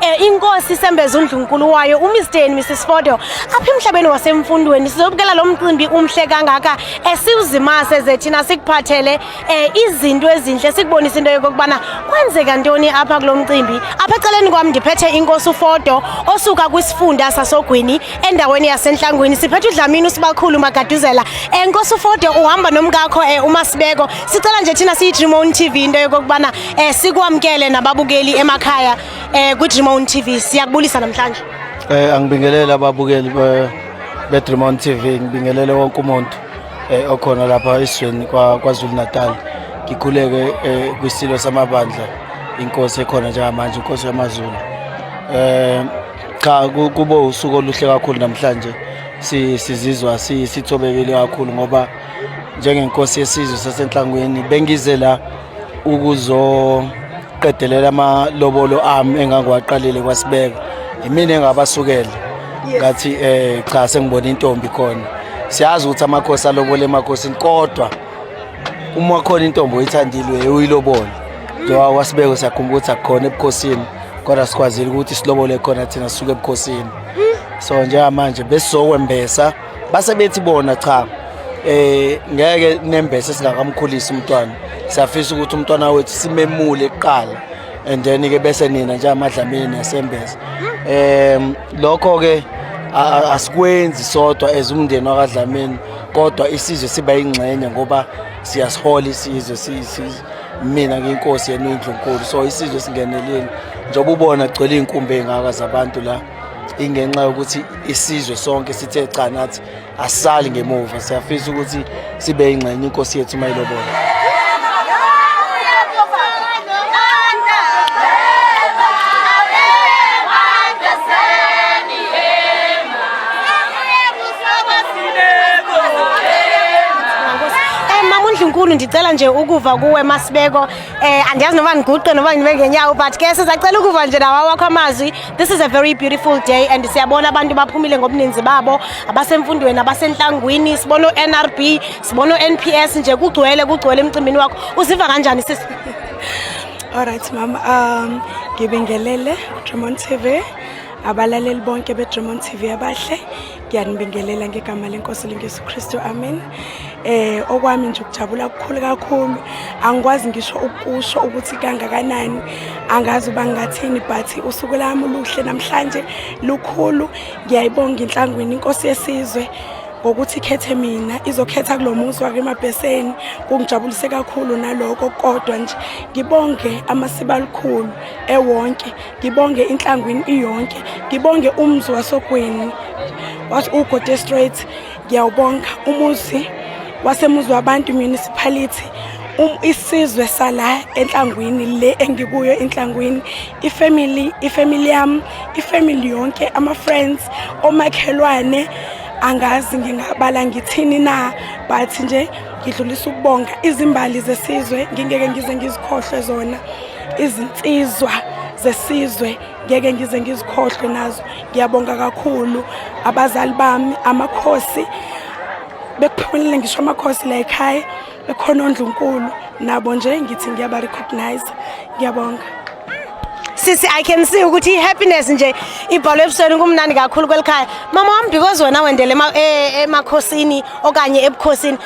Eh, inkosi isembeza undlunkulu wayo uMr and Mrs Fodo apha emhlabeni wasemfundweni sizobukela lo mcimbi umhle kangaka esiwuzimase zethina sikuphathele eh, izinto ezinhle sikubonisa into yokubana kwenzeka ntoni apha kulo mcimbi apha eceleni kwami ndiphethe inkosi uFodo osuka kwisifunda sasogwini endaweni yasenhlangwini siphethe udlamini usibakhulu magaduzela enkosi eh, uFodo uhamba nomkakho uMasibeko sicela nje thina siyi Dream on TV into yokubana Eh sikwamkele nababukeli emakhaya eh ku Dreamon TV siyakubulisa namhlanje. Eh angibingelele ababukeli be be Dreamon TV ngibingelele wonke umuntu eh okhona lapha esizweni kwa KwaZulu Natal. Ngikhuleke eh kwisilo samabandla inkosi ekhona njengamanje inkosi yamaZulu. Eh cha kubo usuku oluhle kakhulu namhlanje sizizwa sithobekile kakhulu ngoba njengenkosi yesizwe sasenhlangwini bengize la ukuzoqedelela amalobolo ami engangiwaqalile kwasibeka yimina engabasukela ngathi eh cha sengibona intombi khona siyazi ukuthi amakhosi alobole emakhosini kodwa uma khona intombi oyithandile uyilobole njengoba kwasibeka siyakhumbula ukuthi akukhona ebukhosini kodwa sikwazile ukuthi silobole khona thina sisuke ebukhosini so njengamanje besizokwembesa base bethi bona cha eh ngeke nembese singakamkhulisa umntwana siyafisa ukuthi umntwana wethu simemule kuqala and then ke bese nina nje amadlamini nesembese em lokho ke asikwenzi sodwa as umndeni wakadlamini kodwa isizwe siba ingxenye ngoba siyasihola isizwe mina ngiyinkosi yenu indlunkulu so isizwe singenelile njengoba ubona gcwele iy'nkumbi ey'ngaka zabantu la ingenxa yokuthi isizwe sonke sithe cha nathi asisali ngemuva siyafisa ukuthi sibe ingxenye inkosi yethu mayilobona Nkulu ndicela nje ukuva kuwe Masibeko eh andiyazi noba ndiguqe noba ngibe ngenyawo but ke sizacela ukuva nje nawa wakho amazwi This is a very beautiful day and siyabona abantu baphumile ngobuninzi babo abasemfundweni abasenhlangwini sibona uNRB sibona uNPS nje kugcwele kugcwele emcimbini wakho uziva kanjani sisi Alright mama um ngibingelele Dremont TV abalaleli bonke beDremont TV abahle ngiyanibingelela ngegama lenkosi lengesu kristu amen eh okwami nje ukujabula kukhulu kakhulu angikwazi ngisho ukusho ukuthi kangakanani angazi uba ngingathini but usuku lami luhle namhlanje lukhulu ngiyayibonga inhlangwini inkosi yesizwe ngokuthi ikhethe mina izokhetha kulo muzi wakemabheseni kungijabulise kakhulu naloko kodwa nje ngibonge amasiba alikhulu ewonke ngibonge inhlangwini iyonke ngibonge umzi wasogweni wathi ugode straight ngiyawubonga umuzi wasemuzi wabantu municipality um, isizwe sala enhlangwini le engikuyo inhlangwini ifamily ifamily yam ifamily yonke ama friends omakhelwane angazi ngingabala ngithini na but nje ngidlulisa ukubonga izimbali zesizwe ngingeke ngize ngizikhohlwe zona izinsizwa zesizwe ngeke ngize ngizikhohlwe nazo ngiyabonga kakhulu abazali bami amakhosi bekuphumelele ngisho amakhosi la ekhaya bekhona ondlunkulu nabo nje ngithi ngiyabarecognize ngiyabonga sisi i can see ukuthi i-happiness nje ibhalwe ebusweni kumnandi kakhulu kweli khaya mama wami because wena wendele e, emakhosini okanye ebukhosini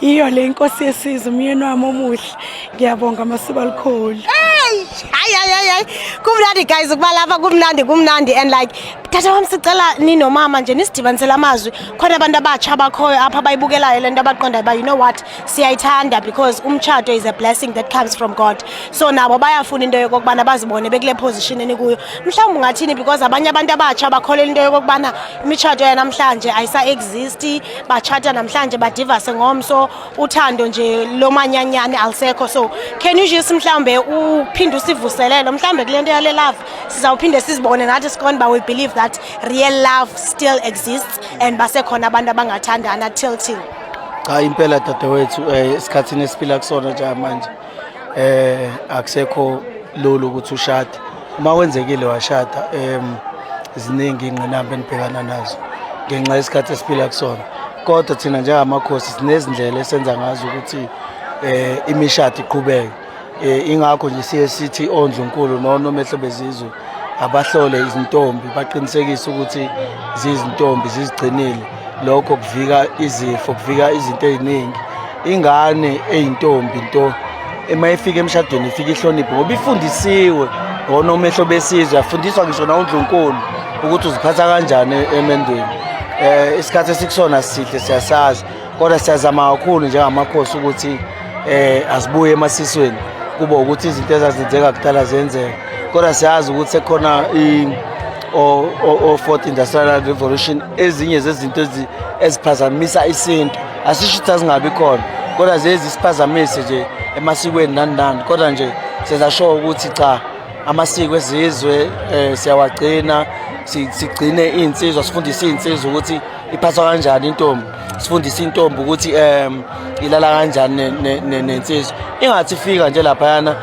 Yiyo le inkosi yesizwe umyeni wami omuhle. Ngiyabonga masuba likhulu. Hey! Hayi hayi hayi, hayi. Kumnandi guys ukuba lapha kumnandi kumnandi and like tata wami sicela ninomama nje nisidibanisele amazwi khona abantu abatsha abakhoyo apha bayibukelayo lento abaqondayo ba you know what siyayithanda because umtshato is a blessing that comes from God. So nabo bayafuna into yokubana bazibone bekule position enikuyo. Mhlawumbe ungathini because abanye abantu abatsha bakholela into yokubana imitshato yanamhlanje ayisa exist bachata namhlanje badivase ngomso uthando nje lomanyanyane alisekho so can you just mhlambe uphinde usivuselele mhlambe kulento yale love sizawuphinde sizibone nathi sikon ba we believe that real love still exists and basekhona abantu abangathandana till till cha impela dadewethu eh, esikhathini esiphila kusona nje manje eh akusekho lolu ukuthi ushade uma wenzekile washada em ziningi ingqinamba enibhekana nazo ngenxa yesikhathi esiphila kusona kodwa thina njengamakhosi sinezindlela esenza ngazo ukuthi eh imishado iqhubeke eh, ingakho nje siye sithi ondlunkulu nonomehlo bezizwe abahlole izintombi baqinisekise ukuthi zizintombi zizigcinile lokho kuvika izifo kuvika izinto eziningi ingane eyintombi into uma ifika emshadweni ifika ihloniphe ngoba ifundisiwe ngona umehlo besizwe yafundiswa ngisho nawundlunkulu ukuthi uziphatha kanjani emendweni eh isikhathi esikusona sihle siyasazi kodwa siyazama kakhulu njengamakhosi ukuthi eh asibuye emasisweni kuba ukuthi izinto ezazenzeka kudala zenzeka kodwa siyazi ukuthi sekukhona or, or, or fourth industrial revolution ezinye zezinto eziphazamisa isintu asisho ukuthi azingabi khona kodwa zezi siphazamise nje emasikweni nani nani kodwa nje sezasho ukuthi cha amasiko ezizwe um siyawagcina sigcine iy'nsizwa sifundise iy'nsizwa ukuthi iphathwa kanjani intombi sifundise intombi ukuthi um ilala kanjani nensizwa ingathi ifika nje laphayana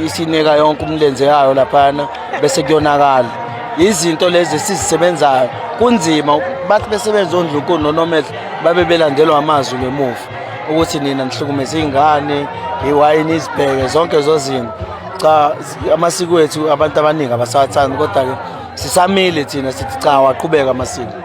isinika yonke umlenze yayo laphana bese kuyonakala izinto lezi esizisebenzayo kunzima bathi besebenza ondlunkulu nonomehlo babe belandelwa amazwi ngemuva ukuthi nina nihlukumeza iy'ngane iwayini izibheke zonke zozinto cha amasiko ethu abantu abaningi abasawathandi kodwa-ke sisamile thina sithi cha waqhubeka amasiko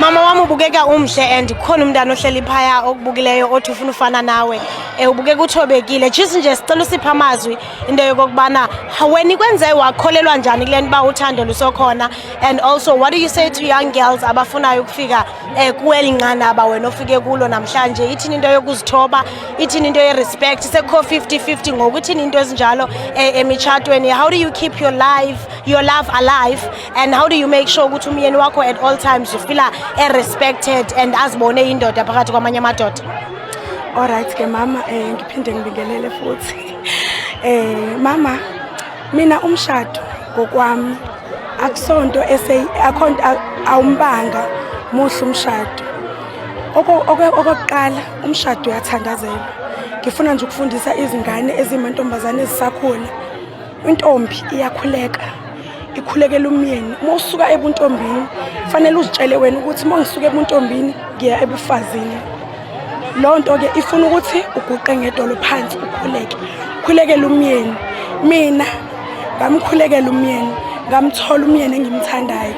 mama wam ubukeka umhle and kukhona umntana ohleli phaya okubukileyo othi ufuna ufana nawe um ubukeka uthobekile jis nje sicela usipha amazwi into yokokubana wena ikwenze wakholelwa njani kule nto uba uthando lusokhona and also what do you say to young girls abafunayo ukufika eh kuweli nqanaba wena ofike kulo namhlanje ithini into yokuzithoba ithini into ye-respect sekho 50-50 ngoku ithini into ezinjalo eh, emitshatweni how do you keep your life your love alive and how do you make sure ukuthi umyeni wakho at all times ufila e-respected and azibone indoda phakathi kwamanye amadoda olright ke mama um ngiphinde ngibingelele futhi um mama mina umshado ngokwami akusonto awumbanga muhle umshado okokuqala umshado uyathandazelwa ngifuna nje ukufundisa izingane ezimantombazane ezisakhona intombi iyakhuleka ikhulekela umyeni uma usuka ebuntombini kufanele uzitshele wena ukuthi uma ngisuka ebuntombini ngiya ebufazini loo nto-ke ifuna ukuthi uguqe ngedolo phansi ukhuleke khulekele umyeni mina ngamkhulekela umyeni ngamthola umyeni engimthandayo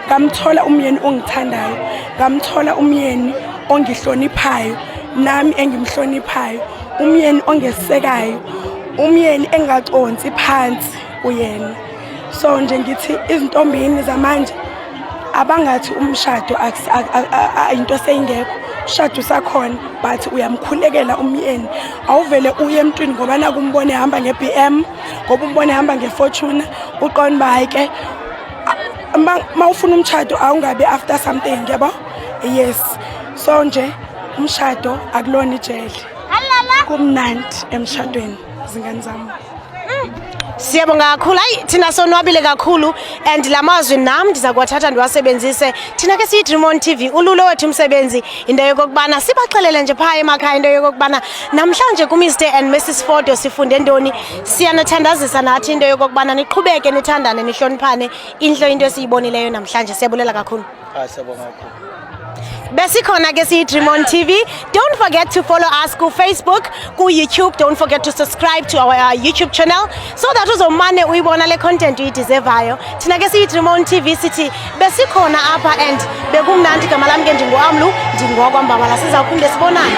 ngamthola umyeni ongithandayo ngamthola umyeni ongihloniphayo nami engimhloniphayo umyeni ongesekayo umyeni engaconsi phansi kuyena so nje ngithi izintombini zamanje abangathi umshado into seyingekho umshado usakhona but uyamkhulekela umyeni awuvele uye emntwini ngoba naku umbone ehamba nge-b m ngoba umbone ehamba ngefortuna uqona uba hayi ke ma ufuna umshado awungabi after something yabo yes so nje umshado akulona ijele kumnandi emshadweni zingane zami Siyabonga kakhulu. Hayi thina sonwabile kakhulu and lamazwi nam ndiza kuwathatha ndiwasebenzise. Thina ke siyi Dream on TV ululo wethu umsebenzi into yokokubana sibaxelele nje phaa emakhaya into yokokubana namhlanje ku Mr and Mrs Fodo sifunde ntoni. Siyanathandazisa nathi into yokokubana niqhubeke nithandane nihloniphane. Inhlo into esiyibonileyo namhlanje. Siyabulela kakhulu. Hayi siyabonga kakhulu. Besikhona ke siyi Dream on TV. Don't forget to follow us ku Facebook, ku YouTube. Don't forget to subscribe to our uh, YouTube channel so that uzomane uyibona le content uyideservayo. Thina ke siyi Dream on TV sithi besikhona apha and bekumnandi gama lami ke ndingoamlu ndingokwa mbabala sizawuphinde sibonane.